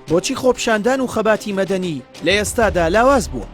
بۆچی خۆپشاندان و خەباتی مەدەنی لە ئێستادا لاواز بووە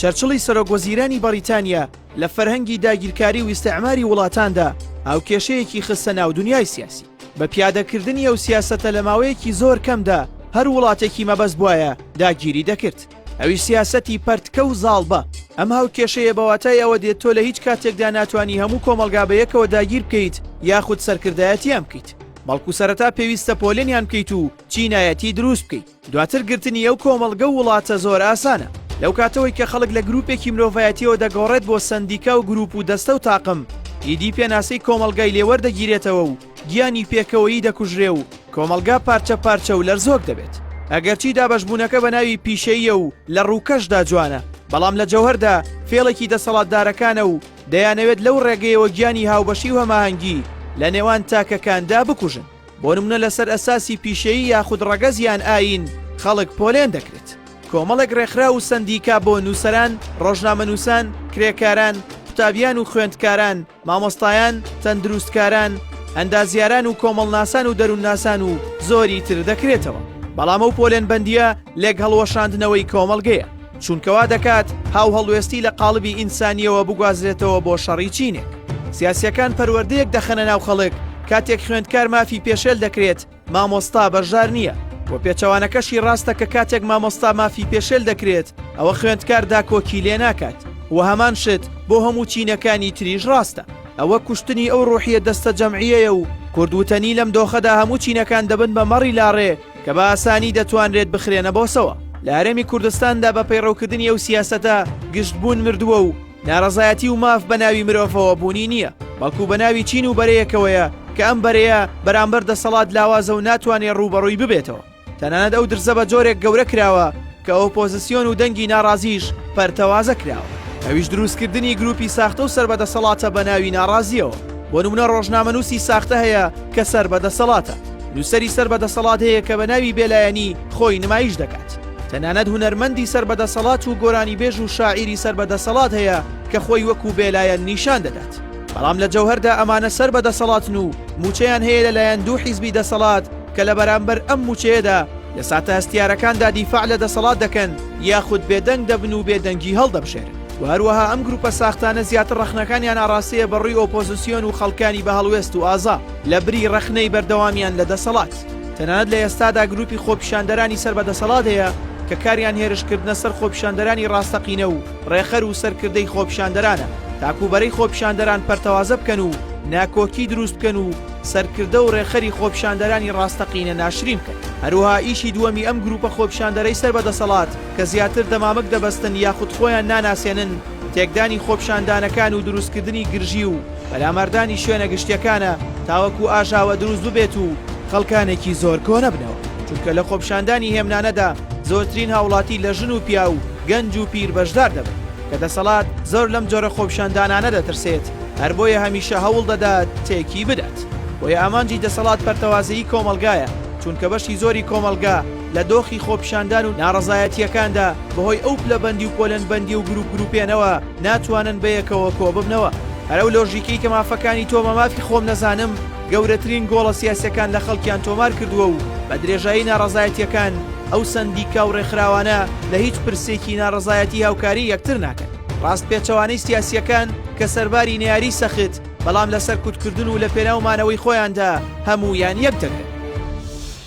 چەرچڵی سەرۆگۆزیرانی بەریتانیا لە فەرهەنگی داگیرکاری و ئیسعماری وڵاتاندا ئەو کێشەیەکی خستە ناو دنیای سیاسی بە پیادەکردنی ئەو سیاسەتە لە ماوەیەکی زۆر کەمدا هەر وڵاتێکی مەبەست بواە داگیری دەکرد ئەویش سیاسەتی پەرتکە و زاڵبە. ئەم هاوکێشەیە بە واتای ئەوە دێت تۆ لە هیچ کاتێکدا ناتوانی هەموو کۆمەڵگا بە یەکەوە داگیر بکەیت یاخود سەرکردایەتیان بکەیت، بەڵکو سەرەتا پێویستە پۆلێنیان بکەیت و چینایەتی دروست بکەیت، دواتر گرتنی ئەو کۆمەڵگە و وڵاتە زۆر ئاسانە. لەو کاتەوەی کە خەڵک لە گروپێکی مرۆڤایەتیەوە دەگۆڕێت بۆ سەندیکا و گروپ و دەستە و تاقم، ئیدی پێناسەی کۆمەڵگای لێ وەردەگیرێتەوە و گیانی پێکەوەیی دەکوژرێ و کۆمەڵگا پارچە پارچە و لەرزۆک دەبێت. ئەگەرچی دابەشبوونەکە بە ناوی پیشەییە و لە ڕووکەشدا جوانە، بەڵام لە جەوهەردا فێڵێکی دەسەڵاتدارەکانە و دەیانەوێت لەو ڕێگەیەوە گیانی هاوبەشی و هەماهەنگی لە نێوان تاکەکاندا بکوژن. بۆ نمونە لەسەر ئەساسی پیشەیی یاخود ڕەگەز یان ئایین خەڵک پۆلێن دەکرێت. کۆمەڵێک ڕێکخراو و سەندیکا بۆ نووسەران، ڕۆژنامەنووسان، کرێکاران، قوتابیان و خوێندکاران، مامۆستایان، تەندروستکاران، ئەندازیاران و کۆمەڵناسان و دەروونناسان و زۆری تر دەکرێتەوە. بەڵام ئەو پۆلێنبەندییە لێکهەڵوەشاندنەوەی کۆمەڵگەیە، چونکە وا دەکات هاوهەڵوێستی لە قاڵبی ئینسانییەوە بگوازرێتەوە بۆ شەڕی چینێک. سیاسییەکان پەروەردەیەک دەخەنە ناو خەڵک، کاتێک خوێندکار مافی پێشێل دەکرێت، مامۆستا بەژار نییە و پێچەوانەکەشی ڕاستە کە کاتێک مامۆستا مافی پێشێل دەکرێت ئەوە خوێندکار داکۆکی لێ ناکات و هەمان شت بۆ هەموو چینەکانی تریش ڕاستە ئەوە کوشتنی ئەو ڕۆحیە دەستە جەمعیەیە و کوردوتەنی لەم دۆخەدا هەموو چینەکان دەبن بە مەڕی لاڕێ کە بە ئاسانی دەتوانرێت بخرێنە بۆسەوە لە هەرێمی کوردستاندا بە پەیڕەوکردنی ئەو سیاسەتە گشتبوون مردووە و نارەزایەتی و ماف بە ناوی مرۆڤەوە بوونی نییە، بەڵکو بە ناوی چین و بەرەیەکەوەیە کە ئەم بەرەیە بەرامبەر دەسەڵات لاوازە و ناتوانێ ڕووبەڕووی ببێتەوە. تەنانەت ئەو درزە بە جۆرێک گەورە کراوە کە ئۆپۆزسیۆن و دەنگی ناڕازییش پەرتەوازە کراوە. ئەویش دروستکردنی گرووپی ساختە و سەر بە دەسەڵاتە بە ناوی ناڕازییەوە. بۆ نموونە ڕۆژنامەنووسی ساختە هەیە کە سەر بە دەسەڵاتە. نووسەری سەر بە دەسەڵات هەیە کە بە ناوی بێلایەنی خۆی نمایش دەکات. تەنانەت هونەرمەندی سەر بە دەسەڵات و گۆرانیبێژ و شاعیری سەر بە دەسەڵات هەیە کە خۆی وەکوو بێلایەن نیشان دەدات. بەڵام لە جەوهەردا ئەمانە سەر بە دەسەڵاتن و مووچەیان هەیە لە لایەن دوو حیزبی دەسەڵات کە لە بەرامبەر ئەم مووچەیەدا لە ساتە هەستیارەکاندا دیفاع لە دەسەڵات دەکەن یاخود بێدەنگ دەبن و بێدەنگی هەڵدەبژێرن و هەروەها ئەم گرووپە ساختانە زیاتر ڕەخنەکانیان ئاڕاستەیە بە ڕووی ئۆپۆزیسیۆن و خەڵکانی بە هەڵوێست و ئازا لە بری ڕەخنەی بەردەوامیان لە دەسەڵات. تەنانەت لە ئێستادا گروپی خۆپیشاندەرانی سەر بە دەسەڵات هەیە کە کاریان هێرشکردنە سەر خۆپیشاندەرانی ڕاستەقینە و ڕێخەر و سەرکردەی خۆپیشاندەرانە تاکوو بەرەی خۆپیشاندەران پەرتەوازە بکەن و ناکۆکی دروست بکەن و سەرکردە و ڕێخەری خۆپیشاندەرانی ڕاستەقینە ناشرین بکەن هەروها ئیشی دووەمی ئەم گروپە خۆپیشاندەرەی سەر بە دەسەڵات کە زیاتر دەمامک دەبەستن یاخود خۆیان ناناسێنن تێکدانی خۆپیشاندانەکان و دروستکردنی گرژی و پەلاماردانی شوێنە گشتیەکانە تاوەکو ئاژاوە دروست ببێت و خەڵکانێکی زۆر کۆنەبنەوە، چونکە لە خۆپیشاندانی هێمنانەدا زۆرترین هاوڵاتی لە ژن و پیاو و گەنج و پیر بەشدار دەبن، کە دەسەڵات زۆر لەم جۆرە خۆپیشاندانانە دەترسێت، هەر بۆیە هەمیشە هەوڵ دەدات تێکی بدات، بۆیە ئامانجی دەسەڵات پەرتەوازەیی کۆمەڵگایە، چونکە بەشی زۆری کۆمەڵگا، لە دۆخی خۆپیشاندان و ناڕەزایەتییەکاندا بەهۆی ئەو پلەبەندی و پۆلنبەندی و گروپ گروپێنەوە ناتوانن بەیەکەوە کۆببنەوە. هەر ئەو لۆژیکەی کە مافەکانی تۆ بە مافی خۆم نەزانم گەورەترین گۆڵە سیاسیەکان لە خەڵکیان تۆمار کردووە و بە درێژایی ناڕەزایەتیەکان ئەو سەندیکا و ڕێکخراوانە لە هیچ پرسێکی ناڕەزایەتی هاوکاری یەکتر ناکەن. ڕاست پێچەوانەی سیاسیەکان کە سەرباری نەیاری سەخت بەڵام لە سەرکوتکردن و لە پێناو مانەوەی خۆیاندا هەموویان یەک دەگرن.